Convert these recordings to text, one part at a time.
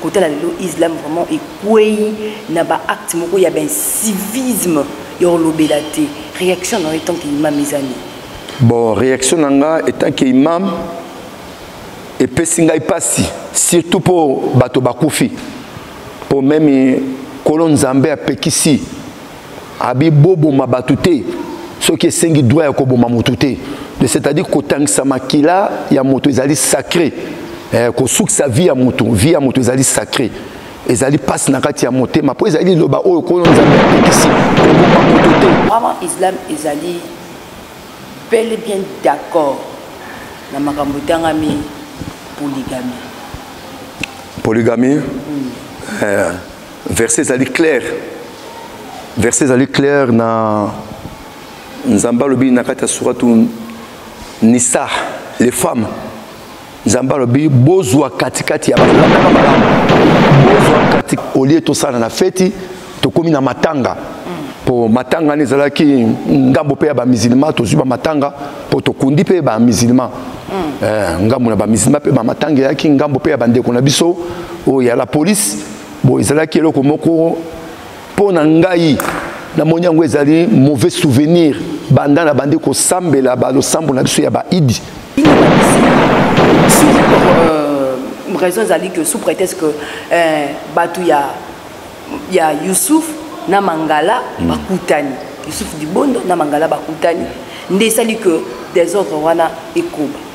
kotala lelo islam vraiment ekwei na baacte moko ya bancivisme ya kolobela te réaction na yo etanke imam eza nini bon réaction na nga etanke imam epesi ngai mpasi surtout mpo bato bakufi mpo meme kolo nzambe apekisi abi boboma bato te soki esengi droit ya koboma moto te c'est-à-dire kotangisa makila ya moto ezali sacré eh, kosukisa vie ya moto vie ya moto ezali sacré ezali mpasi na kati ya motema mpo ezali liloba oyo nkolo nzambe apekisi koboma moto te vraiment islam ezali bel et bien d'accord na makambo etangami polygamie polygamie mm. eh. verset ezali clair verset ezali clair na nzambe alobi na kati ya suratu nisa les femmes nzambe alobi bozwa katikati ya balandaka malamu bozwa kati olie tosala na feti tokómi na matanga mpo matanga wana ezalaki ngambo mpe ya bamizilima tozwi bamatanga mpo tokundi mpe bamizilima mm. eh, ngambo na bamizilima mpe bamatanga eyaki ngambo mpe ya bandeko na biso oyo ya la polise Bon, ezalaki eloko moko mpo na ngai namoni yango ezali mauvais souvenir banda na bandi kosambela balosambo na biso ya baidi euh, raison ezali que sous prétexte que euh, bato ya, ya yusuf na mangala mm. bakutani yusuf dibondo na mangala bakutani nde esali que desordre wana ekoba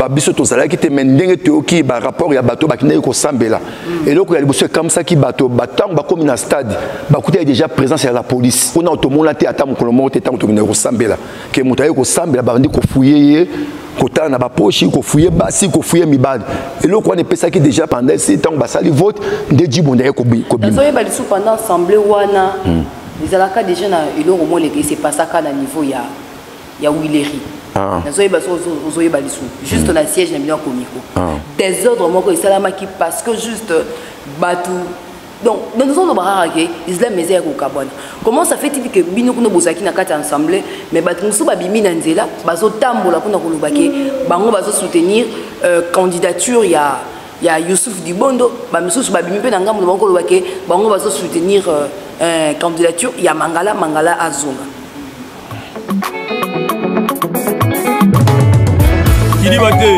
maloba biso tozalaki te mai ndenge toyoki barapport ya bato bakendaki kosambela mm. eloko ya liboso ekamwisaki bato ntango bakómi na stade bakutaki déjà présence ya la police kuna tomona te ata mokolo moko te ntango tokendaki kosambela ke moto aye kosambela babandi kofuye ye kotala na baposhi kofuye basi kofuye mibali eloko wana epesaki déjà pendant esi ntango basali vote nde jibonda ye kobimaoyeba lisusu pendant assemblée wana hmm. ezalaka déjà na eloko moko leke esepasaka na niveau ya, ya wileri ah. nazoyeba ozoyeba lisusu juste hmm. na siège na bino ya komiko ah. desordre moko esalamaki parce que juste bato donc donc tozoloba kaka ke islam eza ya kokabwana comment ça fait il ke bino kuna bozalaki na kati ya ensemble mais bato mosusu babimi na nzela bazotambola mpona koloba ke bango bazosoutenir euh, candidature ya ya yousuf dibondo bamisusu babimi mpe na ngambo na bango koloba ke bango bazosoutenir euh, euh, candidature ya mangala mangala azonga kidiba te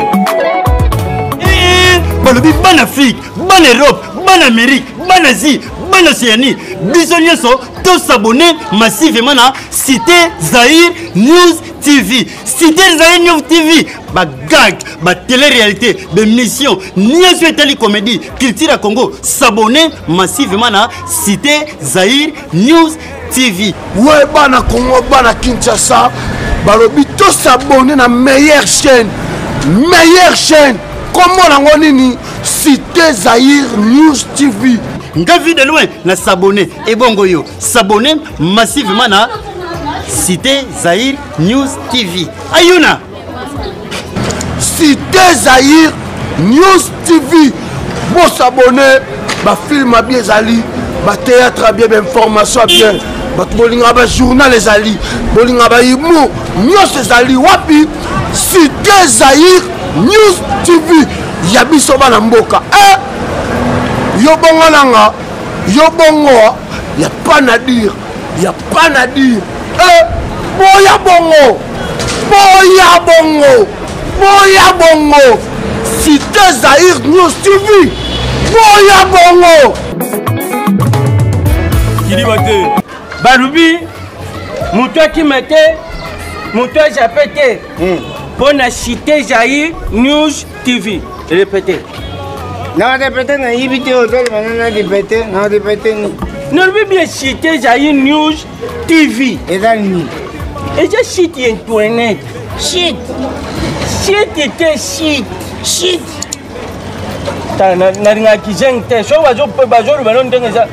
eh, balobi bana afrique bana europe bana amérique bana asie bana océanie biso nyonso tosabone massivement na cité zaire news tv cité zaire news tv bagag batele-réalité bemission nyonso etali comédie culture ya congo sabone massivement na cité zaire news TV. Ouais, bana Congo, bana Kinshasa, balobi to s'abonner na meilleure chaîne. Meilleure chaîne. Comment nango nini Cité Zahir News TV. Nga vie de loin na s'abonner et bongo yo s'abonner massivement na Cité Zahir News TV. Ayuna Cité Zaïre News TV bosabone bafilme abi ezali batéâtre abi bainformation bien bato bolingaka bajournal ezali bolingaka bahumour nyonso ezali wapi cité zaïre news tv ya biso bana mboka e eh! yo bongo nanga yo bongo ya pas na dire pas na dire eh, boya bongo boya bongo boya bongo cité zaïre news tv boya bongo kidiba te balobi moto akima te moto ajape te mpo hmm. na cité jaïre news TV répété na répété na yibi te otali bana na répété na répété ni nalobi bien site ezali news TV eza nini eza site ya internet site site te site site nalingaki zeng te soki bazoloba no ndenge eza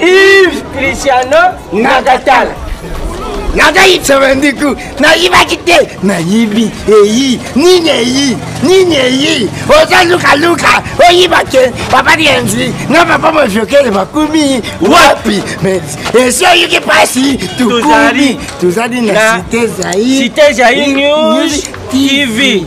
Yves Cristiano Nakatala. nazali sevendiku nayibaki te nayibi eyi nini eyi nini eyi oza lukaluka oyiba te papa dienzi na papa mojokele bakumi wapi esi oyoki mpasi tukumi tozali na site zaire tv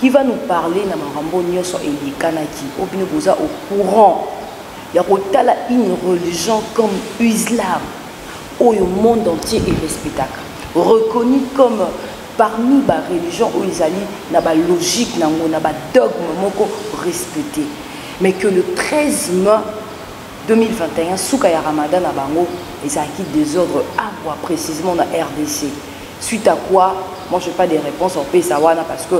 qui va nous parler na makambo nyonso eyekanaki oyo bino boza au courant ya kotala une religion comme islam oyo monde entier erespectaka reconnu comme parmi bareligion oyo ezali na balogique na yango na badogme moko respecté mais que le 13 mai 2021 suka ya ramadan na bango ezalaki desordre agwa précisement na rdc suite à quoi moi je pas des réponses opesa wana parce que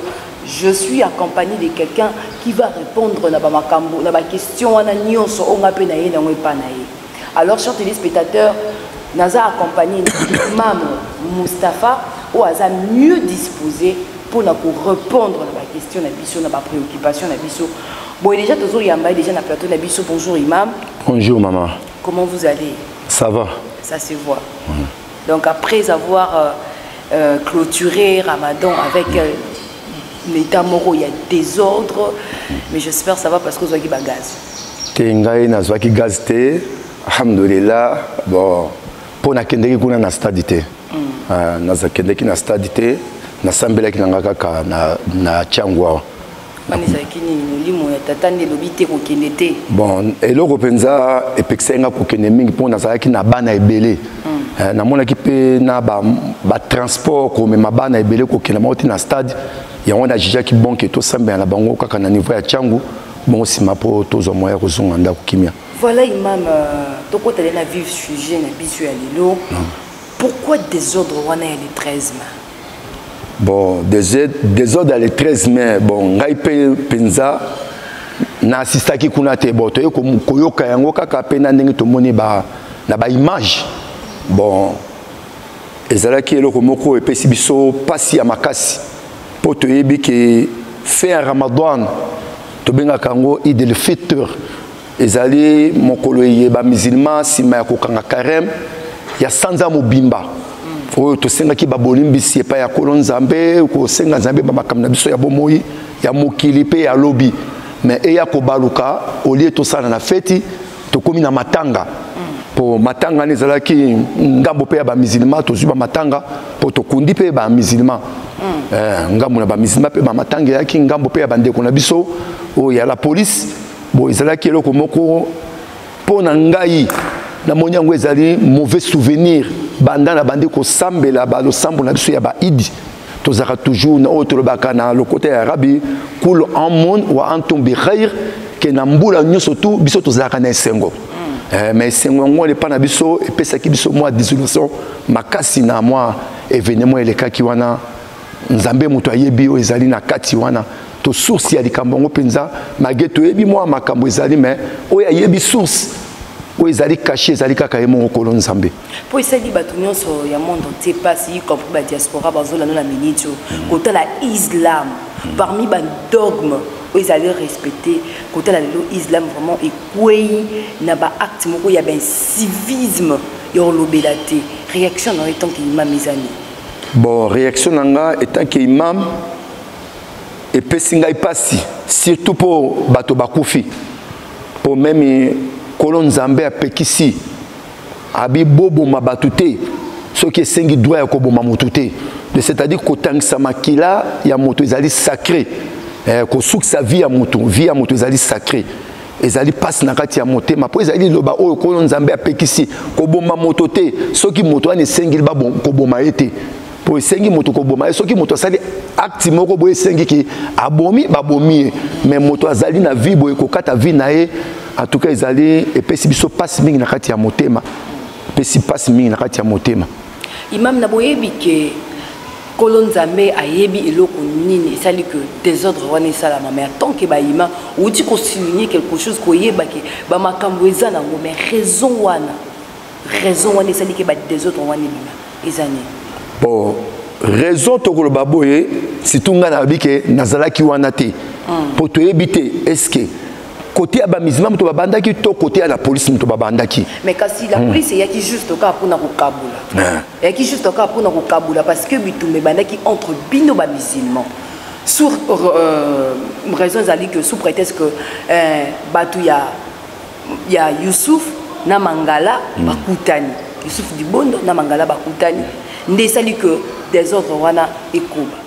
je suis accompagné de quelqu'un qui va répondre na bamakambo na baquestion wana nyonso oyo ngai mpe na ye nango epa na ye alors chers téléspectateurs naza accompagné mame mustapha oyo aza mieux disposé mpo na korépondre na baquestion na biso na bapréoccupation na biso Bon, déjà, tozo yamba déjà na plateau na biso. Bonjour, imam. Bonjour, maman. Comment vous allez Ça va. Ça se voit. Mmh. Donc, après avoir euh, euh, clôturé Ramadan avec euh, l'état moro, il y a désordre, mais j'espère que ça va parce que vous avez gaz. te ngai nazwaki gaz te alhamdulillah bon mpo nakendeki kuna na stade te mm. ah, nazakendeki na stade te nasambelaki na ngai kaka na, na tiangu awa wana ezalaki nini molimo ya tata nde elobi te kokende te bon eloko mpenza epekisaki nga kokende mingi mpo nazalaki na bana ebele hmm. eh, namonaki mpe na batransport komema bana ebele kokenda bango te na stade yango wana ajijaki bonke tosambela na bango kaka na niveau ya ntango bongo nsima mpo tozwa moya ya kozonga ndako kimia voilà imam euh, tokotale na vive sujet na biso ya lelo hmm. pourquoi désordre wana ya le 13 mai bon desordre ya le 13 mai bon ngai mpe mpenza na assistaki kuna te bon toye koyoka yango kaka mpe na ndenge tomoni ba, na baimage bon ezalaki eloko moko oyo epesi biso mpasi ya makasi mpo toyebi ke fin ya ramadan tobengaka yango idel fitre ezali mokolo eye bamizilma nsima ya kokanga kareme ya sanza mobimba oyo tosengaki babolimbisi epai ya kolo nzambe kosenga nzambe bamakambo na biso ya bomoi ya mokili mpe ya lobi me eya kobaluka olie tosala na feti tokomi na matanga mpo matanga nde ezalaki ngambo mpe ya bamizilma tozwi bamatanga mpo tokundi mpe bamizilma eh, ngambo na bamizilma mpe bamatanga eyaki ngambo mpe ya bandeko na biso oyo ya la polise Bon, ezalaki eloko moko mpo na ngai namoni yango ezali mauvais souvenir banda na bandi kosambela balosambo na biso ya baidi tozalaka toujours na oyo tolobaka na lokota ya arabi kul amun wa antum bi khair ke na mbula nyonso tu biso tozalaka na esengo mm. eh, mais esengo yango wana epai na biso epesaki biso mwa disolation makasi na mwa événement elekaki wana nzambe moto ayebi oyo ezali na kati wana to source ya likambo yango mpenza malgre toyebi mwa makambo ezali me oyo ayebi source oyo ezali kashe ezali kaka ye moko kolo nzambe mpo esali bato nyonso ya monde entier mpasi y compris badiaspora bazolanda na miniti oyo kotala islam parmi badogme oyo ezali respecte kotala lelo islam vraiment ekwei na baacte moko ya bacivisme ya kolobela te réaction na yo etanke imam ezani Bon, réaction na nga étant que imam epesi ngai mpasi surtout mpo bato bakufi mpo meme nkolo nzambe apekisi abiboboma bato te soki esengi droit ya koboma motu te c'est-à-dire kotangisa makila ya moto ezali sacré eh, kosukisa vie ya moto vie ya moto ezali sacré ezali mpasi na kati ya motema mpo ezali liloba oyo nkolo nzambe apekisi koboma moto te soki moto wana esengeli koboma ye te mpo esengi moto koboma ye soki moto asali akti moko boye esengi ki abomi babomi ye me moto azali na vie boye kokata vie na ye antuka ezali epesi biso mpasi mingi na kati ya motema epesi mpasi mingi na kati ya motema imam na boyebi ke nkolo nzambe ayebi eloko nini esali ke desordre wana esalama mai tant ke bayima outi kosiligne quelque chose koyeba ke bamakambo eza nango mai raison wana raison wana esali ke badesordre wana ebima eza nini bon raison tokoloba boye situ ngai nayebi ke nazalaki wana te mpo hmm. toyebi te eske kote ya bamizima moto babandaki to kote ya la polise moto babandaki mais kasi la hmm. polise eyaki juste kaka mpona kokabola ah. eyaki juste kaka mpona kokabola parce que bitumba ebandaki entre bino bamisilman sur euh, raison ezali que sous prétexte que euh, bato ya ya yusuf na mangala hmm. bakutani yusuf dibondo na mangala bakutani nde esali que desordre wana ekoba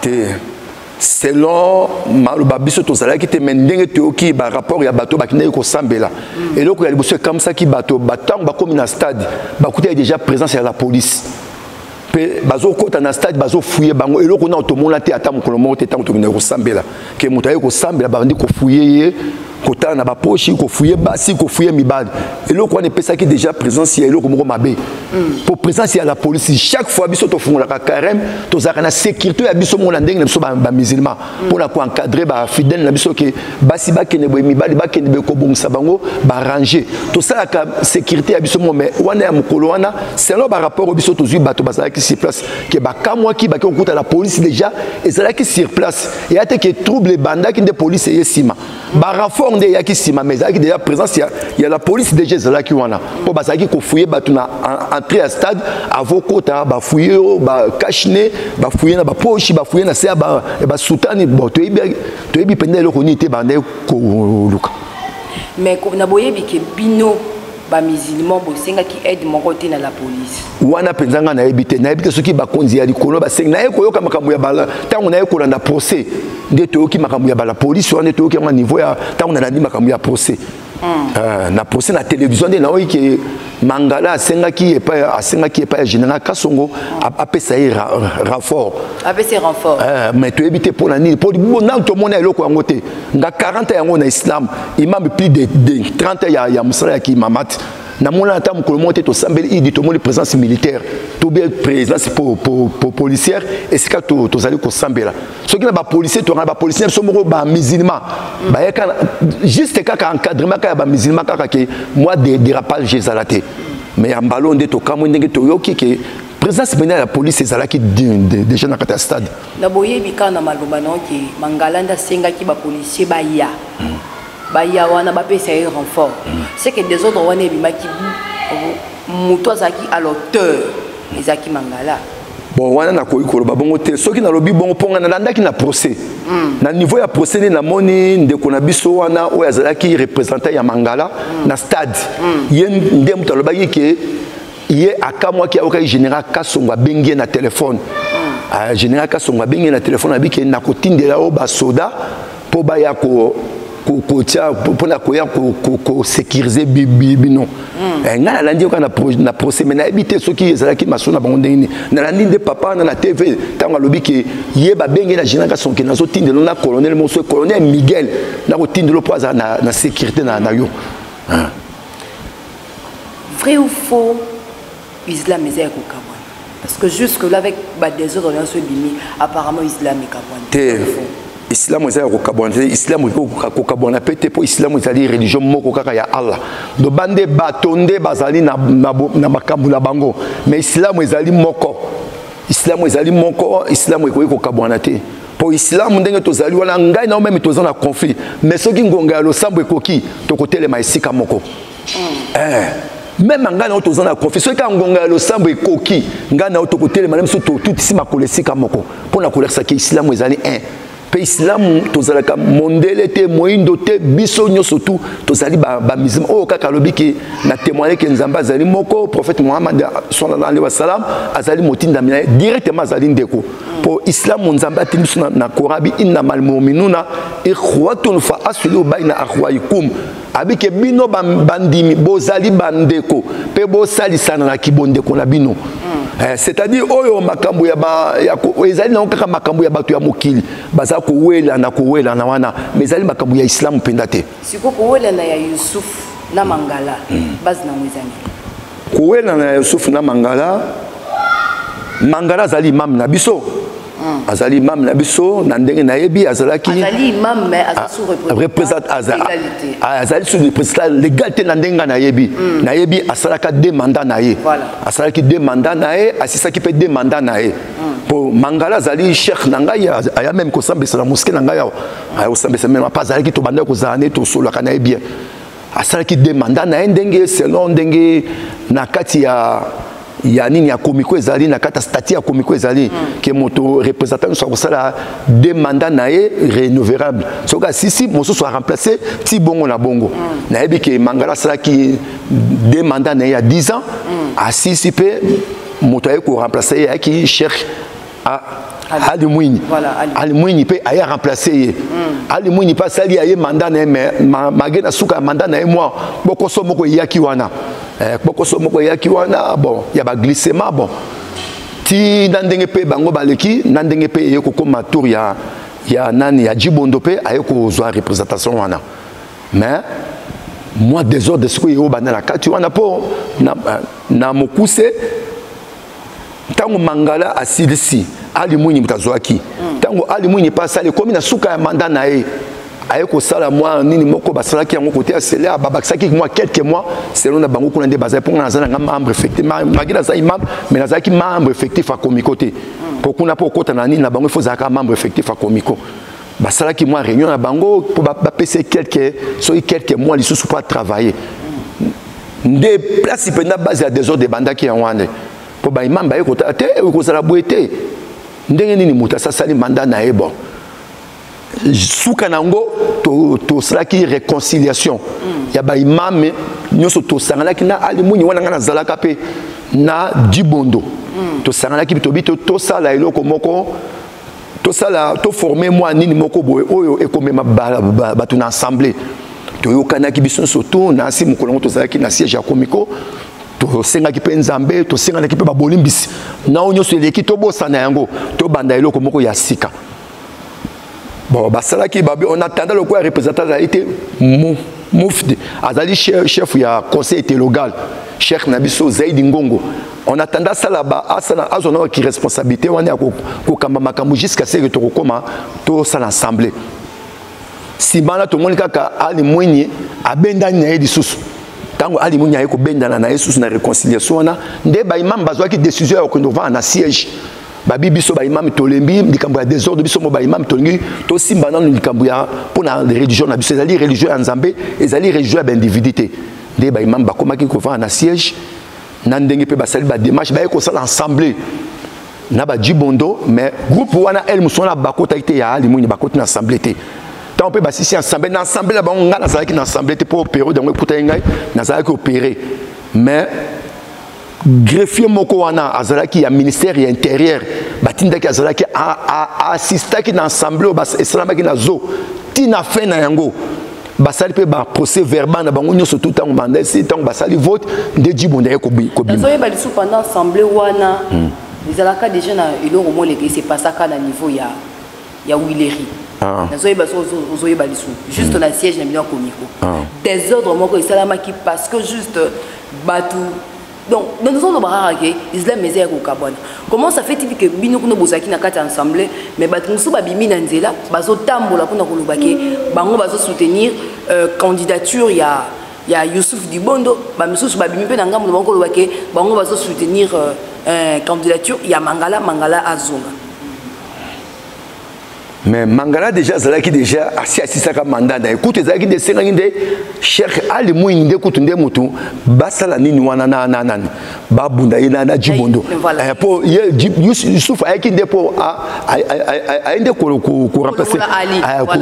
te selon maloba biso tozalaki te me ndenge toyoki barapport ya bato bakendaki kosambela eloko ya liboso ekamwisaki bato bantango bakomi na stade bakutaki déjà présence ya la police mpe bazokɔta na stade bazofuye bango eloko nao tomona te ata mokolo moko te ntango tokendaki kosambela ke moto aye kosambela babandi kofuye ye kotala na baposhi kofuye basi kofuye mibali eloko wana epesaki déjà présence ya eloko moko mabe mpo mm. présence ya la police chaque fois biso tofungolaka carême tozalaka na sécurité ya biso moko na ndenge na biso bamusulman mm. mpo na koencadre bafidèle na biso ke basi bakende boye mibali bakende boye kobongisa bango barange tosalaka sécurité ya biso moko mais wana ya mokolo wana selon barapport oyo biso tozwi bato bazalaki sur place ke bakamwaki bake kokuta na polisi déjà ezalaki sur place eya te ke trouble ebandaki nde polisi eye nsima baraffort nde eyaki nsima mais ezalaki déjà présence ya, ya la polisi déjà ezalaki wana mpo bazalaki kofouye bato na entrée ya stade avo kota bafouye yo bakashne bafouye na baposhi bafouye na se ya basutani bon toyebi mpenza eloko nini te bandaki koluka mais na boyebi ke bino bamusulman bosengaki aide moko te na la police wana mpenza ngai nayebi te nayebi te soki bakonzi ya likolo basengi naye koyoka makambo ya bala ntango naye kolanda procès nde toyoki makambo ya bala polisi wana nde toyoki yango niveau ya ntango nalandi makambo ya procès hmm. ah, na procès na télévision nde nayoki ke mangala asengaki epai asengaki epai ya général kasongo apesa ye renfort apesa renfort eh, mais toyebi te mpo na nini mpo nanu tomona eloko yango te nga 40 yango na islam imam plus de, de 30 ya, ya mosala ya kimamat namonana ata mokolo moko te tosambeli idi tomoni présence militaire to bien présence po, po, po, policière esika tozali to, to kosambela soki na bapolicier tongana bapolicier biso moko bamusulman baye kaka juste kaka encadrement kaka ya bamusulman kaka ke mwa de dérapage ezala te mais ya mbalo nde tokamwi ndenge toyoki ke présence mpenza ya police ezalaki déjà na kati ya stade Na boyebi kaka na maloba na yo ke Mangala nde asengaki ba policiers baya hmm. baya wana bapesa ye renfort hmm. c'est que desordre wana ebimaki moto azalaki à l'auteur ezalaki Mangala bon wana nakoki koloba bongo te soki nalobi bongo mpo ngai nalandaki na procès mm. na niveau ya procès nde namoni ndeko na biso wana oyo azalaki représentant ya mangala mm. na stade mm. ye nde moto alobaki ke ye akamwaki ayokaki général kasongo abengi ye na telefone ah, général kasongo abengi ye na telefone abike nakotindela yo basoda mpo baya kotia mpona koya kosekirize bino hmm. eh, ngai nalandi yoka na procès mai nayebi te soki ezalaki maso na bango ndenge nini nalandi nde papa wana na tv ntango alobi ke ye babenge na général kasonke nazotindelo na colonel moso colonel miguel nakotindelo mpo azala na sécurité na yo ah. vrai ou faux islam eza ya kokabwana parce que jusque là avec badésordre nyonso ebimi apparemment islam ekabwana te islamu eza ya kokabwana te islamu mpe kokabwana mpe te mpo islamu ezali religion moko kaka ya allah donc bande bato nde bazali na, na, na makambo na bango mais islamu ezali moko islamu ezali moko islamu ekoki kokabwana te mpo islamu ndenge tozali wana ngai na yo meme toza na conflit mais soki ngonga ya losambo ekoki tokotelema esika moko mm. eh. meme ngai na yo toza na conflit soki kaka ngonga ya losambo ekoki ngai na yo tokotelema na biso totutisi makolo esika moko mpo na kolakisa ke islamu ezali un eh. mpe islamu tozalaka mondele te moindo te biso nyonso tu tozali bamizima ba oyo kaka alobi ke na témoigne ke nzambe azali moko prophète mohamad sallallahu alaihi wasallam azali motindami na ye directement azali ndeko mpo islamu nzambe atindi biso na korabi innama almuminuna ikhwatun fa aslihu baina akhwaikum abike bino bandimi bozali bandeko mpe bosalisana na kibondeko na bino hmm. eh, c'est-à-dire oyo makambo ya, ba, ya ezali nango kaka makambo ya bato ya mokili baza kowelana kowelana wana mais ezali makambo ya islamu mpenza te siko kowelana ya yusuf na mangala hmm. base nango ezangi kowelana ya yusuf na mangala mangala azali imam na biso hmm. azali imam na biso na ndenge nayebi azalaki azali sous representa legal te na ndenge ngai nayebi hmm. nayebi asalaka de mandat na ye asalaki de mandat na ye asisaki mpe de mandat na ye mpo mangala azali cheikh na ngai aya meme kosambisa na moske na ngai awa ayosambisa meme apa azalaki tobandaki kozala nde tosolaka na ye bien asalaki de manda na ye ndenge selon ndenge na kati ya ya nini ya komiko ezali na kati ya stati ya komiko ezali mm. ke moto représentant nyonso akosala de manda na ye renouvelable soki asisi mosusu aremplace ti bongo na bongo mm. nayebi ke mangala asalaki de manda na ye ya 10 ans mm. asisi mpe moto ayei koremplace ye ayaki cheikh Ah, Ali Mwinyi. Voilà, Ali. Ali Mwinyi pe aye remplacer ye. Mm. Ali Mwinyi pa sali aye mandat na mais ma, mage na suka mandat na moi bokoso moko yaki wana. Eh bokoso moko yaki wana bon ya ba glissement bon. Ti na ndenge pe bango baleki na ndenge pe ye kokoma tour ya ya nani ya Jibondo pe aye kozwa représentation wana. Mais moi désordre sikoyo yo banda na kati wana po na, na mokuse ntango mangala asilisi ali mwinyi moto azwaki ntango ali mwinyi mpe asali ekomi na suka ya manda na ye aye kosala mwa nini moko basalaki yango kote ya selea babakisaki mwa quelques mois selon na bango kuna nde bazali mpo nga naza nanga membre effectif magi nazali membre mais nazalaki membre effectif ya komiko te mpo kuna mpo okota na nini na bango ifo ozalaka membre effectif ya komiko basalaki mwa réunion na bango mpo bapesa quelques soki quelques mois lisusu mpo atravailler nde place mpenza base ya desordre ebandaki yango wana mpo baimam baye kotala te ekozala boye te ndenge nini moto asasali manda na ye bon suka na yango tosalaki to réconciliation mm. ya baimame nyonso tosanganaki na alimuni wana ngai nazalaka mpe na dibondo mm. tosanganaki tobi tosala eloko moko tosala toforme mwa nini moko boye oyo ekomema bato na assemblée toyokanaki biso nyonso to na nsi mokolo yango tozalaki na siège ya komiko tosengaki mpe nzambe tosenganaki mpe babolimbisi na oyo nyonso eleki tobosana yango tobanda eloko moko ya sika bon basalaki babi on attendait lokola représentant azali te mo mufti azali chef ya conseil telogal cheikh na biso zaidi ngongo on attendait asala ba asala azwa na ki responsabilité wana ya kokamba makambo jusqu'à ce que tokokoma tosala assemblée nsima wana tomoni kaka ali mwenye abendani na ye lisusu ntango ali mwenye aye kobendana na ye lisusu na réconciliation wana nde baimame bazwaki décision ya kokende kovanda na siège babi biso baimami tolembi likambo ya desordre biso mo baimami tolingi tosimba nano likambo ya mpo na religion na biso ezali religion ya nzambe ezali religion ya baindividu te nde baimami bakomaki kovanda na siège na ndenge mpe basali bademarche baye kosala ensemble na bajibondo mais groupe wana el mosu wana bakotaki te ya alimwini bakoti na ensemble te ntango mpe basisi ensemble na ensemble na bango ngai nazalaki na ensemble te mpo opere yango ekutaki ngai nazalaki opere mais greffier moko wana azalaki ya ministère ya intérieur batindaki azalaki assistaki na assemblée oyo esalamaki na zo ti na fin na yango basali mpe baprocès verbal na bango nyonso tu ntango banda esi ntango basali vote nde jibonda ye kobimaoyeba lisusu pendant assemblée wana hmm. ezalaka déjà na eloko moleke esepasaka na niveau ya ya wileri ah. nazoyeba so ozoyeba lisu juste mm. na siège na bino ya komiko ah. desordre moko esalamaki parce que juste bato donc nazoloba kaka ke islam eza ya kokabwana comment ça fait ke bino kuna bozalaki na kati ya ensemble mais bato mosusu babimi na nzela bazotambola mpona koloba ke bango bazosoutenir euh, candidature ya ya yusuf dibondo bamisusu babimi mpe na ngambo na bango koloba ke bango bazosoutenir euh, euh, candidature ya mangala mangala azonga mais mangala déjà azalaki déjà asi asisaka manda na ye kutu ezalaki nde esengaki nde cheikh ali mwingi nde kutu nde motu basala nini wana na na nani babunda ye na jibondo eh, mpo yusufu ayaki nde mpo aye nde koremplace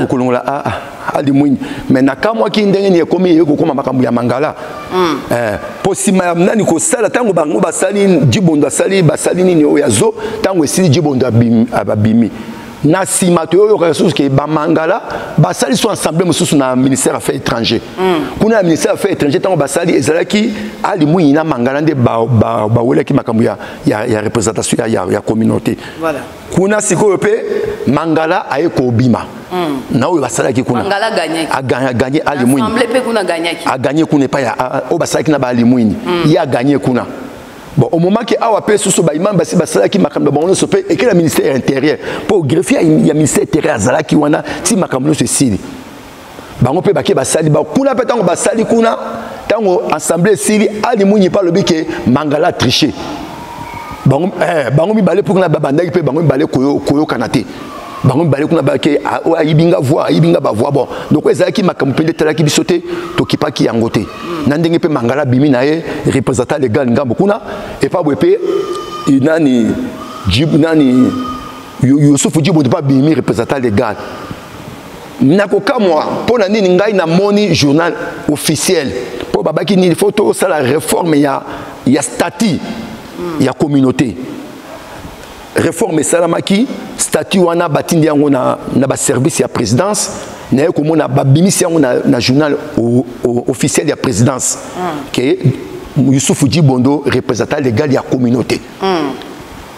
kolongola aa alimwinyi me nakamwaki ndenge nini ekomi eye kokoma makambo ya mangala mm. eh, mpo nsima ya nani kosala ntango bango basali jibondo asali basali nini oyo ya zo ntango esili jibondo abimi na nsima toyoyokaka lisusu ke bamangala basali so ensemble mosusu na ministère affaires étranger mm. kuna ya ministère affaires étranger ntango basali ezalaki alimwinyi na mangala nde bawelaki ba, ba, makambo ya, ya, ya représentation ya, ya, ya communauté voilà. kuna sikoyo mpe mangala aye kobima mm. na oyo basalaki kuna aganye alimwini aganye kuna epai oyo basalaki na baalimwini mm. ye aganye kuna bon omomaki awa mpe susu baimami basi basalaki makambo ya bango nyonso mpe ekela ministère ya intérieur mpo greffier ya ministère intérieur azalaki wana ti makambo nyonso esili bango mpe bake basali ba, kuna mpe ntango basali kuna ntango assemblée esili ali mwinyi mpe alobi ke mangala triche bango, eh, bango mibale mpo kuna babandaki mpe bango mibale koyokana te bango mibale kuna bake ah, oyo ayibi nga voi ayibi nga bavoi bon donc oyo ezalaki makambo mpe nde etalaki biso te tokipaki yango te na ndenge mpe mangala abimi na ye représentant legal ngambo kuna epa boye mpe nani jib nani yusufu jibo mpe abimi représentant legal nakokamwa mpo na nini ngai namoni journal officiel mpo babaki nini fo tosala reforme ya, ya statut mm. ya communauté reforme esalamaki statut wana batindi yango na, na baservice ya présidence naye komona babimisi yango na, na journal o, o, officiel ya présidence mm. ke yusufu jibondo représentant légal ya communauté mm.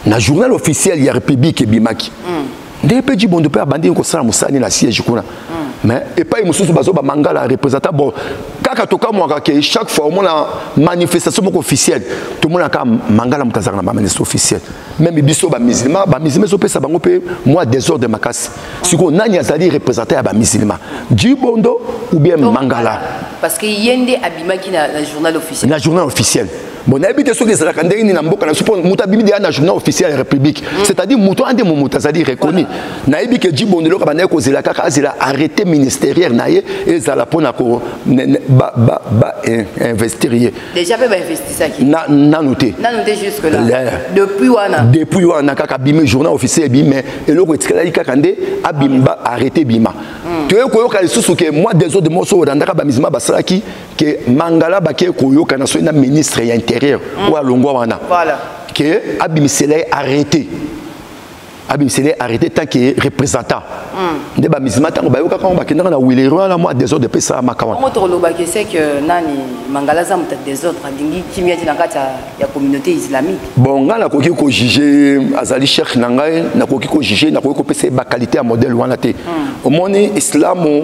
na journal officiel ya republique ebimaki mm. ndenge mpe jibondo mpe abandi kosala mosani na siège kuna mm. mais epai mosusu bazo bamangala représentant bon kaka tokamwaka ke chaque fois omona manifestation moko officielle tomonaka mangala moto azalaka na bamanifestation officielle meme biso bamisilma bamisilma ezopesa bango mpe mwa désordre makasi sikoyo nani azali représentant ya bamisilma jibondo ou bien mangala parce que ye nde abimaki na journal officiel na journal officiel bon nayebi te soki ezalaka ndenge nini na mboka na biso mpo moto abimi deya na journal officiel ya république mm. c'est-à-dire moto ande mo moto azali reconnu nayebi ke jibonde eloko bandaki kozela kaka azela arrêté ministérieur na ye ezala mpo na ko bainvestir ye nanu te depuis wana depuis wana kaka abimi journal officiel ebimi mais eloko etikalaki kaka nde abima arrêté bima mm. toyei koyoka lisusu ke mwa desode moso olandaka bamisima basalaki ke mangala bakei koyokana soki na ministre ya intérieur mm. oyo alongwa wana ke abimisela ye arrete abimisela ye arrete tant ke représentant mm. nde bamizima ntango bayokaka yango bakendaka na wilere wana mwa desordre epesa makawango tokolobaki se ke nani mangala aza moto ya desordre alingi kimia ti na kati ya communauté islamique bon ngai nakoki kojuge azali cheikh na ngai nakoki kojuge nakoki kopesa ye bakalite ya modèle wana te mm. omoni islamu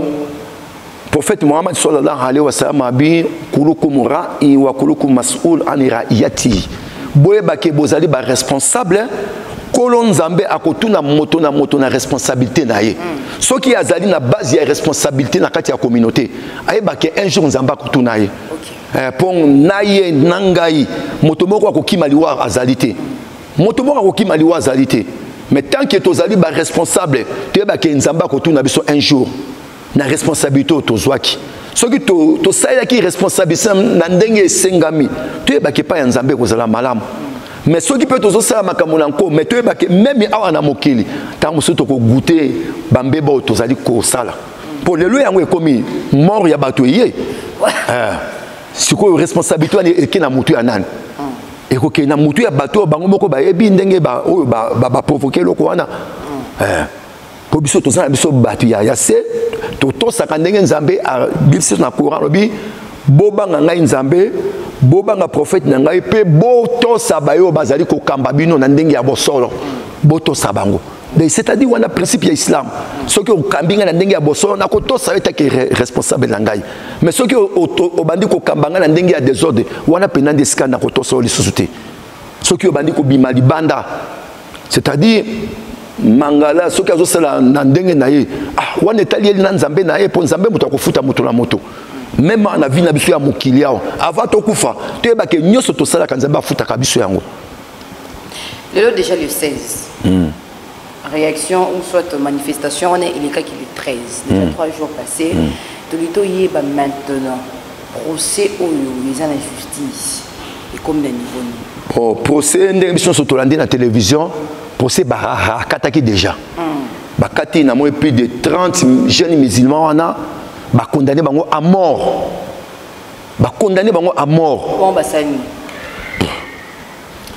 Prophète Mohammed sallallahu alayhi wa sallam a dit Kulukum ra'i wa kulukum mas'ul an ra'iyati. Boyeba ke bozali ba responsable kolo nzambe akotuna moto na moto na responsabilité na ye soki azali na base ya responsabilité na kati ya communauté ayebake un jour nzambe akotuna ye mpo eh, na ye na ngai moto moko akokima liwa azali te moto moko akokima liwa azali te mais tant que tozali baresponsable toyebake nzambe akotuna biso un jour na responsabilité oyo tozwaki soki tosalelaki to responsabilité na ndenge esengami toyebaki epai ya nzambe ekozala malamu mais soki mpe tozosala makambo na nko mais toyebaki meme awa na mokili ntango mosusu tokogute bambeba oyo tozali kosala mpo lelo yango ekomi mort ya bato eye eh, sikoyo responsabilité wana eke na motu ya nani ekokende na motu ya bato oyo bango moko bayebi ndenge oyo baprovoke eloko wana eh. mpo biso toza na biso bato ya ya se totosaka ndenge nzambe abimisi na courant alobi bobanga ngai nzambe bobanga profete na ngai mpe botosa baye oyo bazali kokamba bino na ndenge ya bosolo botosa bango c'est-à-dire wana principe ya islam soki okambi ngai na ndenge ya bosolo nakotosa yo etaki responsable na ngai mais soki obandi kokamba ngai na ndenge ya desordre wana mpena nde esika nakotosa yo lisusu te soki obandi kobima libanda c'est-à-dire mangala soki azosala na ndenge na ye ah, wana etali ye na nzambe na ye mpo nzambe moto akofuta moto na moto meme na vie na biso ya mokili awa avant tokufa toyebake nyonso tosalaka nzambe afutaka biso yango lelo déjà le 16 hmm. réaction ou soit manifestation wana elekaki le 13 déjà 3 mm. jours passé mm. tolingi toyeba maintenant procès oyo eza na justice ekomi na niveau nini oh, procès ndenge biso nyonso tolandi na télévision procès baraha akataki déjà mm. bakati na moi plus de 30 jeunes musulmans wana bakondane bango à mort bakondane bango à mort bon,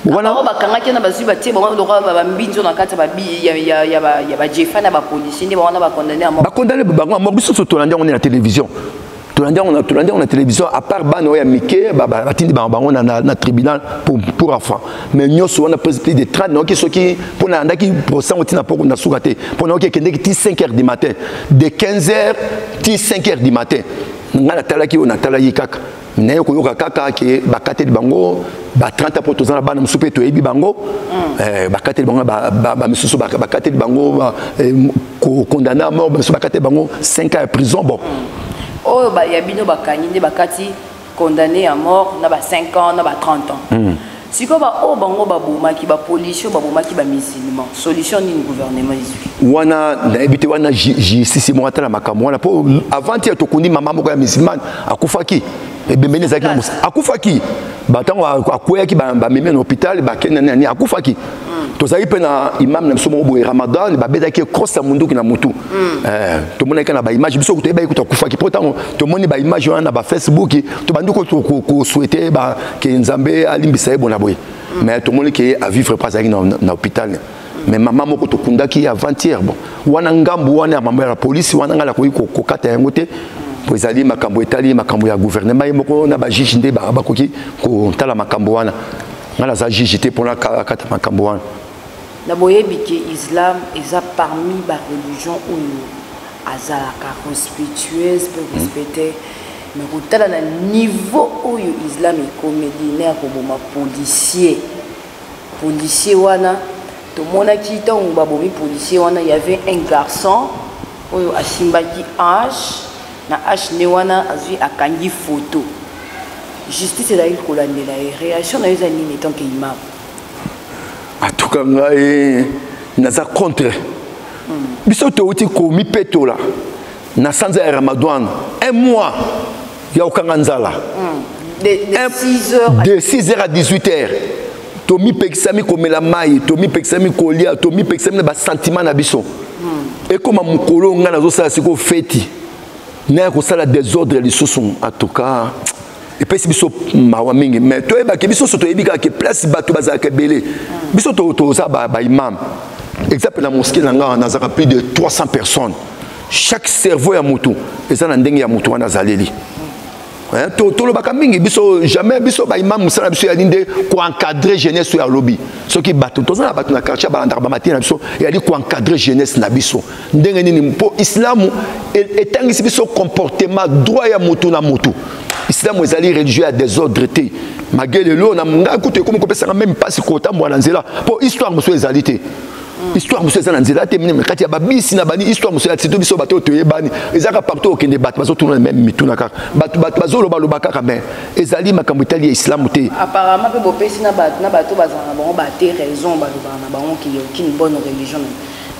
wana oyo bakangaki wana bazwi batie bango lokola bambinzo na kati ya bajefa na bapolisier nde bawana bakondane ya bakondane bango moko biso so tolandi yango nde na télévision tolandi yango na tolandi yango na télévision à part bana oyo ya mike batindi bango bango na, na, na tribunal pour, pour enfant mais nyonso wana plus de 30 nayoki soki mpo na yandaki procès yango ntina mpo na suka te mpo nayoki ekendeki ti 5 heures du matin de 15 heures ti 5 heures du matin ngai natalaki oyo natalaki kaka naye koyoka kaka ke bakateli bango ba 30 mpo toza na bana mosusu mpe toyebi bango mm. eh, bakateli bango bamisusu bakateli bango eh, kokondane a mort bamisusu bakateli bango 5 ans ya prison bon mm. oyo ya bino bakangi nde bakati condamné à mort na ba 5 ans na ba 30 ans mm. sikoyo baoyo bango babomaki bapolisi oyo babomaki bamusulman solution nini gouvernement ezwi wana nayebi te wana justice moko atala makambo wana mpo avanti ya tokundi mama moko ya musulmane akufaki ebembeni ezalaki na akufaki ntango akweyaki bamemi na hôpital bakende nani akufaki tozalaki mpe na imam na biso moko boye ramadan babetaki cross ya munduki na mutu hmm. eh, tomonaki na baimage biso toyebaki kutu akufaki mpo ntango tomoni baimage wana na bafacebook tobandi koswete ke nzambe alimbisa ye bona boye hmm. mais tomoni ke avivre mpo azalaki na hôpital hmm. mais mama moko tokundaki avant-hier bon wana ngambu wana ya mama ya polisi wana ngai nakoki kokata yango te mpo ezali makambo etali makambo ya gouvernement ye moko na bajuge nde bakoki kotala makambo wana nga naza juge te mpona akata makambo wana na boyebi ke islam eza parmi ba religion oyo azalaka respectueuse mpe respecte me kotala na niveau oyo islam ekomeli na ya koboma policier policier wana tomonaki ntango babomi policier wana y avait un garçon oyo asimbaki ange na h ne wana azwi akangi photo justice ezali kolandela ye réaction na yo eza nini etant que imam atuka ngai naza contre hmm. biso touti komipetola na sanza ya ramadan un mois ya kokanga nzala hmm. de 6 heures à 18 heures tomipekisami komela mai tomipekisami kolia tomipekisami na basantima na biso hmm. ekoma mokolo ngai nazosala sikoyo feti naya kosala desordre lisusu en tout cas epesi biso mawa mingi mais toyebaki biso so toyebi kaka ke place bato bazalaka ebele hmm. biso toza baimam exemple na moske na ngai nazalaka plus de 300 personnes chaque cerveau ya motu eza na ndenge ya motu wana azaleli Hein, to tolobaka mingi biso jamais biso ba imam musala biso ya ninde ko encadrer jeunesse ya lobi soki bato tozana bato na quartier balandaka ba matina biso ya li ko encadrer jeunesse na biso ndenge nini mpo islamu etangisi biso comportement droit ya mutu na mutu islamu ezali religieux ya desordre te magelelo na ngai kutu ekomi kopesaka meme mpasi kotambola na nzela mpo histoire mosusu ezali te histoire mosusu eza na nzela te mine kati ya babisi na bani histoire mosusu ya sito biso bato oyo toyebani ezalaka partout okende bato bazotuna na meme mituna kaka bato bato bazolobaloba kaka me ezali makambo etali ya islamu te apparemment mpe bopesi na bato na bato bazala na bango bate raison balobaka na bango kiye okini bonne religion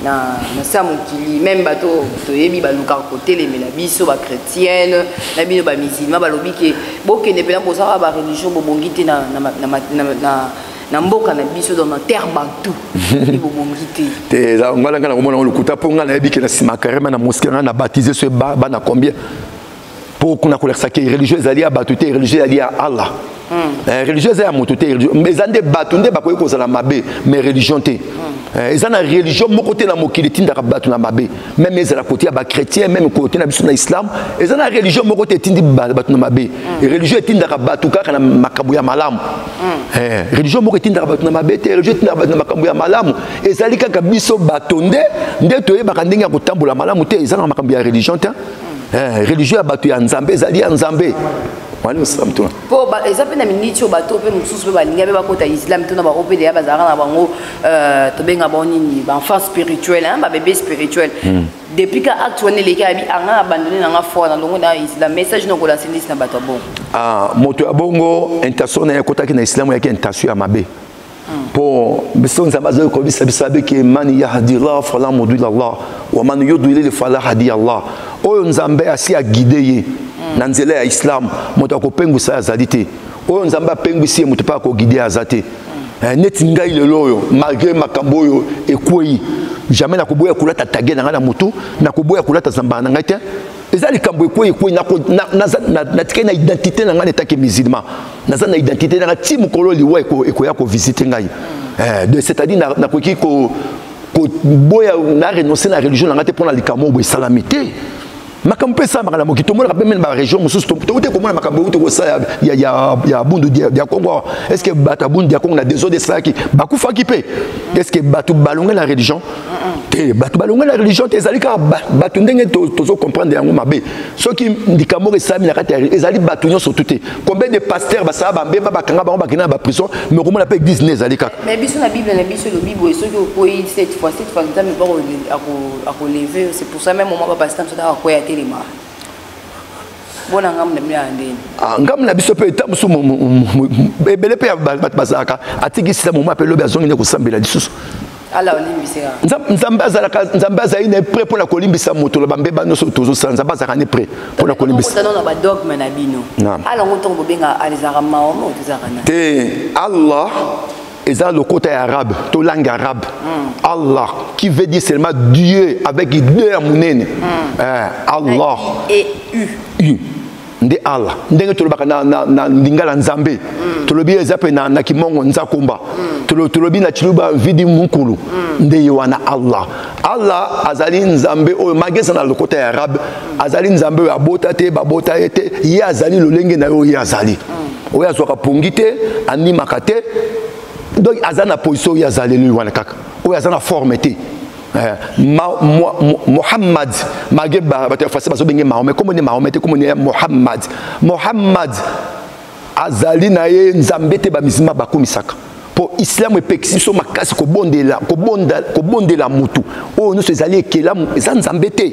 na nse ya mokili meme bato toyebi balukaka kotelemela biso bachrétienne na bino bamisilma balobi ke bokende mpena bozalaka bareligion bobongi te na na mboka na biso dans na terre bantou bobongi te te eza ngala ngala komona ngo lokuta mpo ngai nayebi ke na nsima karema na moske ngai na baptise so bana combien mpo kuna kolakisa ke religieux ezali ya bato te religieux ezali ya allah hmm. eh, religieux eza ya moto te eza nde bato nde bakoki kozala mabe mais religion te hmm. eh, eza na religion moko te na mokili etindaka bato na mabe meme ezala kote ya bachrétien meme kote na biso na islam eza na religion moko te etindi bato na mabe mm. religion etindaka bato kaka na makambo ya malamu mm. eh, religion moko etindaka bato na mabe te religion etindaka bato na makambo ya malamu ezali kaka biso bato nde nde toyebaka ndenge ya kotambola malamu te eza na makambo ya religion te mm. eh, religion ya bato ya nzambe ezali ya nzambe mpo eza mpe na miniti oyo bato mpe mosusu mpe balinga mpe bakota islam to na bango mpe deya bazalaka na bango euh, tobenga bango nini baenfant spirituel babebe spirituel hmm. depuis ka acte wana eleki abi anga abandone na nga foi na longo na islam message na okolasa ndisi na bato ya bongo ah, moto ya bongo intention na ye akotaki na islam yaki intention ya mabe po biso nzambe azali koyebisa biso abeke man yahdillah fala modwil allah wa man yudwilil fala hadi allah oyo nzambe asi agide ye na nzela ya islam moto akopengwisa ye azali te oyo nzambe apengwisi ye moto mpe akogide ye aza te eh, neti ngai lelo oyo malgré makambo oyo ekwei jamais nakoboya kolata tage na ngai na motu nakoboya kolata zambala na ngai te eza likambo ekwei ekwei natikali na identité na ngai netaki musulman naza na identité na ngai ti mokolo liwa ekoya kovisite ngai eh, de c'est-à-dire nakoki koboya na renonce na religion na ngai te mpo na likambo oyo esalami te makambo mpe esalamaka na mokili tomonaka mpe mene baregion mosusu touti komona makambo euti kosala ya bundu ya kongo est ce que bato ya bundu ya kongo na desode esalaki bakufaki mpe est ce que bato balongai na religion te bato balongwe na religion te ezali kaka bato ndenge tozo comprendre yango mabe soki likambo moko esalami na kati ya ezali bato nyonso tu te combien de pasteur basala bambeba bakanga bango bakenda na baprison mais okomona mpe eglise ne ezali kaka mais biso na bible na biso elobi boye soki okwei cette fois cette fois nzambe bako akoleve c'est pour ça même moment bapasteur mosusu akakwea telemaka bona ngambo na bino ya ndeni ah, ngambo na biso mpe eta mosusu ebele mpe ya bato bazalaka atiki sila moma mpe lobi azongi nde kosambela lisusu ala olimbisi nga nzambe azalaka nzambe azali na prêt pona kolimbisa moto na bambeba nyonso tozosala nzambe azalaka ne prêt pona kolimbisa na badogme na bino ala yango ntongo bobenga alizaka mawa mo tozalaka na te allah eza lokota ya arabe to langue arabe mm. allah qui veut dire seulement dieu avec deux ya monene mm. eh, allah e u u nde allah ndenge tolobaka na, na, na lingala nzambe mm. tolobi eza mpe na, na kimongo nzakomba mm. Tolo, tolobi na chiluba vidi mukulu mm. nde ye wana allah allah azali nzambe oyo magesa na lokota ya arabe mm. azali nzambe oyo abota te babota ye te ye azali lolenge na ye oyo ye azali mm. oyo azwaka pongi te animaka te donc aza na position oyo azaleli wana kaka oyo aza na forme te Eh, mohammad malgré bato ya français bazobenge mahome nkombo nde mahome te nkombo nde ya mohammad mohammad azali na ye nzambe te bamizima bakumisaka mpo islamu epekisi biso makasi kobondela, kobonda, kobondela motu oyo nyonso ezali ekelamu eza nzambe te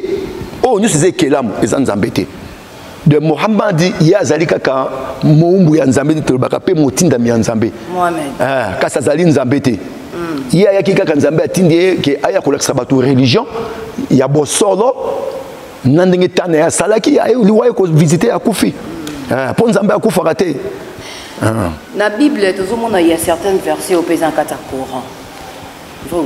oyo nyonso eza ekelamu eza nzambe te de mohamad ye azali kaka mowumbu ya nzambe te tolobaka mpe motindami ya nzambe ah, kasi azali nzambe te mm. ye ayaki kaka nzambe atindi ye ke aya kolakisa bato religion ya bosolo na ndenge tana ye asalaki liwa ye kovisite akufi ah, mpo nzambe akufaka te ah. na bible tozomona ya certaines version oyo mpe eza na kati ya coran vrai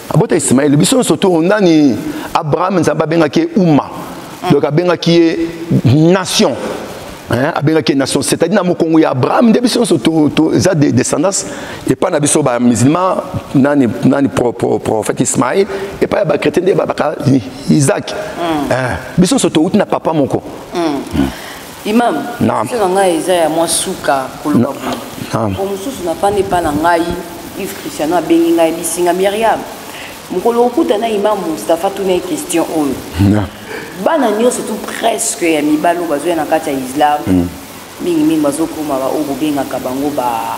abota ismaele biso nyonso to nani abraham nzambe abengaki ye uma donc abengaki ye nation hein, abengaki nation c'est-à-dire na mokongo ya abraham nde biso nyonso eza de descendance epai na biso bamusulman nani, nani pro, pro, prophète ismaïl epai ya bachrétien nde babaka isaac mm. hein, biso nyonso touti na papa moko mm. Mm. Imam, question na ngai eza ya mwa suka koloba boye. Mpo mosusu nafandi epai na ngai, Yves Christiano abengi ngai bisinga Myriam. Mokolo okuta na Imam Mustafa tuna ye question oyo. Bana nyonso tu presque ya mibali oyo bazoya na kati ya Islam mm. mingi mingi bazokoma baoyo bobengaka bango ba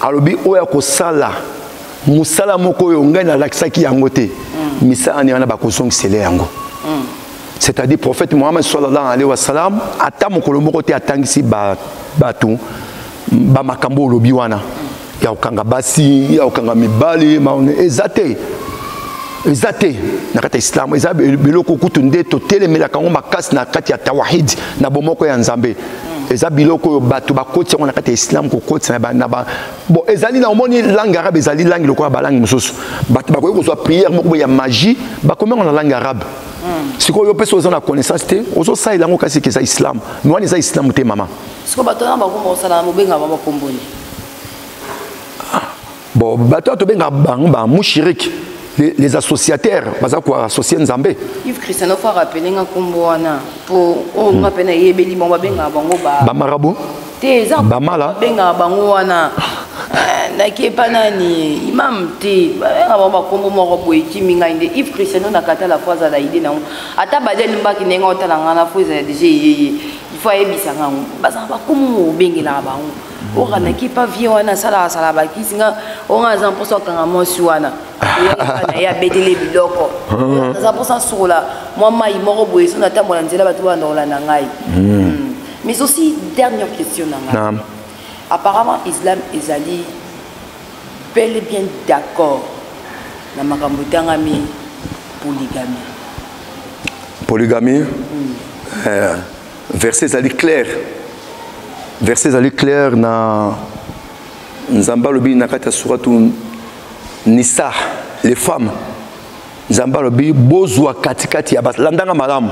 alobi oyo ya kosala mosala moko oyo ngai nalakisaki yango te mm. misala ni wana bakozongisele yango mm. c'est-à-dire prophète mohammed sallallahu alaihi wasallam ata mokolo moko te atangisi bato bamakambo olobi wana ya kokanga basi ya kokanga mibali eza te eza te na kati ya islamu eza biloko kutu nde totelemelaka yango makasi na kati ya tawahid na bomoko ya nzambe eza biloko oyo bato bakotisa yango na kati ya islam kokotisa na ba bon ezali na omoni langue arabe ezali langue lokola balangue mosusu bato bakoki kozwa prière moko boye ya magie bakomi yango na langue arabe hmm. sikoyo yo mpesi oza na connaissance te ozosalela yango kasi ke eza islam mi wana eza islam te mama sikoyo bato wana bakoma kosala mobengama bakomboni bon bato oyo tobenga bango ba mushiriki les, les associataires baza koassocie nzambe ive christian ofa rappele nga nkombo wana mpo oyo nga mpe nayebeli bango babengaka bango bamarabo te eza bamala babengaka bango wana eh, nakepa nani imam te babengaka bango bakombo moko boye ekimi ngai nde ive christiano nakatala fo azala ide nango ata baja elimbaki ndenge otala ngai na fo ezala deja eyeye ifo ayebisa ngango bazala bakombo mobengelaka bango oka na kipa vie wana asalaka asala bakisi nga onga aza mposa akanga mwasi wana na ye abetele biloko ah. aza mposa asokola mwa mai moko boye so natambola nzela bato banda kolanda ngai hmm. Hmm. mais aussi dernière question na ngai apparemment islam ezali bel et bien d'accord na makambo etangami polygamie polygamie hmm. eh. verset ezali claire verset ezali claire na nzambe alobi na kati ya suratu nisa les femmes nzambe alobi bozwa katikati ya basi landanga malamu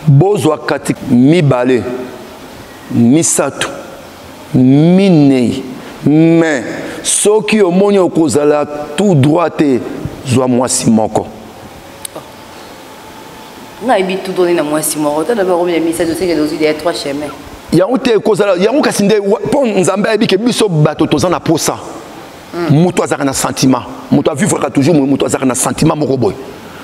bozwa kati mibale misato minei me soki omoni okozala tout droit te zwa mwasi moko nga yebi tout donné na mwasi moko tala ba romi ya misa de seke dozui de trois chemins yango te ekozala yango kasi nde mpo nzambe ayebi ke biso bato toza na posa hmm. moto azalaka na sentiment moto avivraka toujours moto azalaka na sentiment moko boye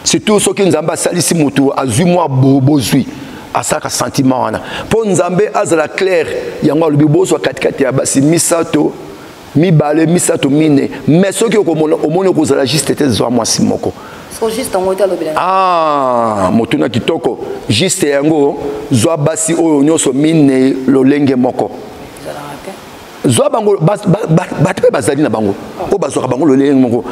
surtout soki nzambe asalisi moto azwi mwa bozwi bo asalaka sentiment wana mpo nzambe azala claire yango alobi bozwa katikati ya basi misato mibale misato mine me soki okomona omoni okozala juste te zwa mwasi moko ah, motuna kitoko juste yango zwa basi oyo nyonso minei lolenge moko zwa bango bato mpe bazali na bango oyo bazwaka bango lolenge moko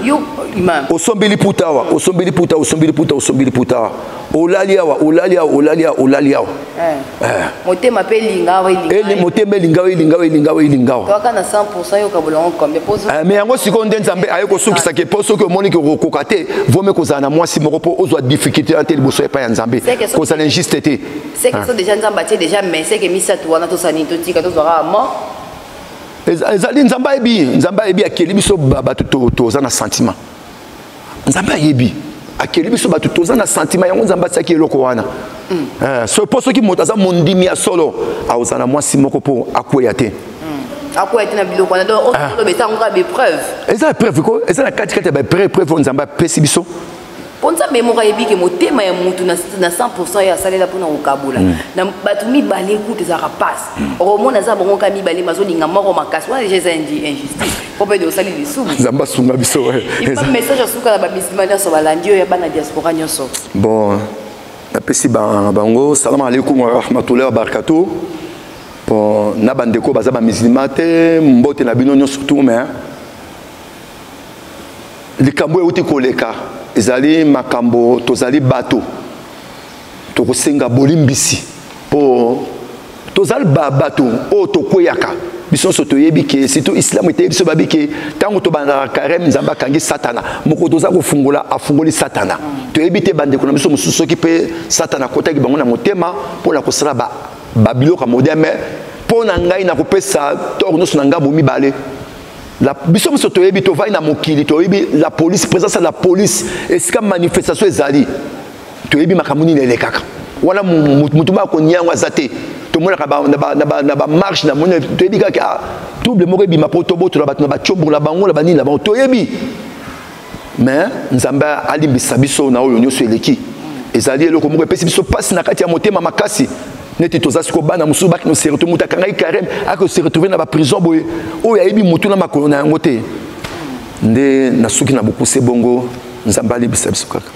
osombeli puta awa osombeli puta osombeli puta osombeli puta awa olali awa olali awa olali awa olali awa eh. Eh. motema mpe elinga awa elinga motema elinga awa elinga awa elinga awa elinga awa toaka na 100 yoka bolongo kombe poso eh, mais yango sikoyo nde nzambe aye kosukisa ke mpo soki omoni ke okokoka te vome kozala na mwasi moko mpo ozwa difficulté wana te liboso epai ya nzambe kozala injuste te seke so déjà nzambe atie déjà mais seke misato wana tosala nini totika tozwaka mort ezali nzambe ayebi nzambe ayebi akeli biso bato toza na sentiment nzambe ayebi akeli biso bato toza na santima yango nzambe atiaki eloko wana mm. eh, so mpo soki moto aza mondimi ya solo aoza na mwasi moko mpo akweya te mm. akweya te na biloko wana donc oyo ah. eza yango kaka bepreuve eza epreuve ko eza na katikati ya baepreuve preuve oyo nzambe apesi biso mpo nzambe moko ayebi ke motema ya motu na 100 ye asalela mpona kokabola mm. na bato mibale kutu ezalaka mpasi mm. okomona aza bango kaka mibale mazolinga moko makasi wana deja eza injustice po mpe osali lisumu nzambe asunga biso message asuka na bamisima nyonso balandi oyo ya bana diaspora nyonso bon napesi bango salamu alaikum warahmatullahi wabarakatu bon na bandeko baza bamisilima te mbote na bino nyonso tu me likambo euti koleka ezali makambo tozali bato tokosenga bolimbisi mpo tozali bato oyo tokweyaka biso nyonso toyebi ke surtout islamu eteyi biso babi ke ntango tobandaka kareme nzambe akangi satana moko toza kofungola afungoli satana toyebi te bandeko na biso mosusu soki mpe satana akotaki bango na motema mpo na kosala babiloko ya modeme mpo na ngai nakopesa toro nyonso na ngai bomibale la biso biso toyebi tovai na mokili toyebi la police présence ya la police esika manifestation ezali toyebi makambo nini elekaka wana motu moko akonia yango aza te tomonaka na bamarche na moni toyebi kaka ah, trouble moko ebima mpo tobotola bato na bacombo na bango na banini na bango toyebi mais nzambe alimbisa biso na oyo nyonso eleki ezali eloko moko epesi biso mpasi na kati ya motema makasi neti toza siko bana mosusu baki noserto moto akangaki kareme ake oseretrouve na baprison boye oyo ayebi motu na makolo na yango te nde nasuki na bokuse bongo nzambe alimbisa biso kaka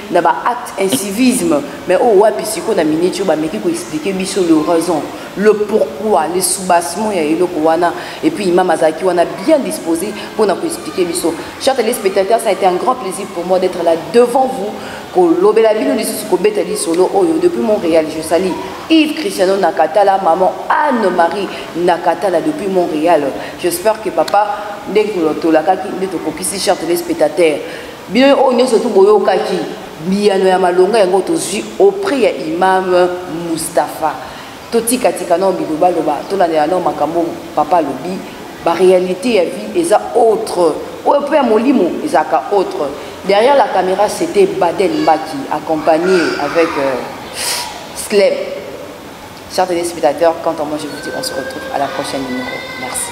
na ba acte incivisme mais oyo wapi sikoyo na minute oyo bameki koexplike biso le raison le pourquoi le soubassement ya eloko wana et puis imam azalaki wana bien disposé mpo na koexplike biso chers téléspectateurs ça a été un grand plaisir pour moi d'être là devant vous kolobela bino lisusu kobeta lisolo oyo depuis montréal je sali yves cristiano nakatala maman anne marie nakatala depuis montréal j'espère que papa ndenge tolakaki nde tokokisi chers téléspectateurs bino oyo nyonso tu boyokaki biyano ya malonga yango tozwi auprès ya imam mustapha totikatika nao bilobaloba tolandela nao makambo papa alobi baréalité ya vie eza autre oyo mpe ya molimo ezalaka autre derrière la caméra c'était baden mbaki accompagné avec euh, slep chers téléspectateurs quant à moi je vous dis on se retrouve à la prochaine numéro merci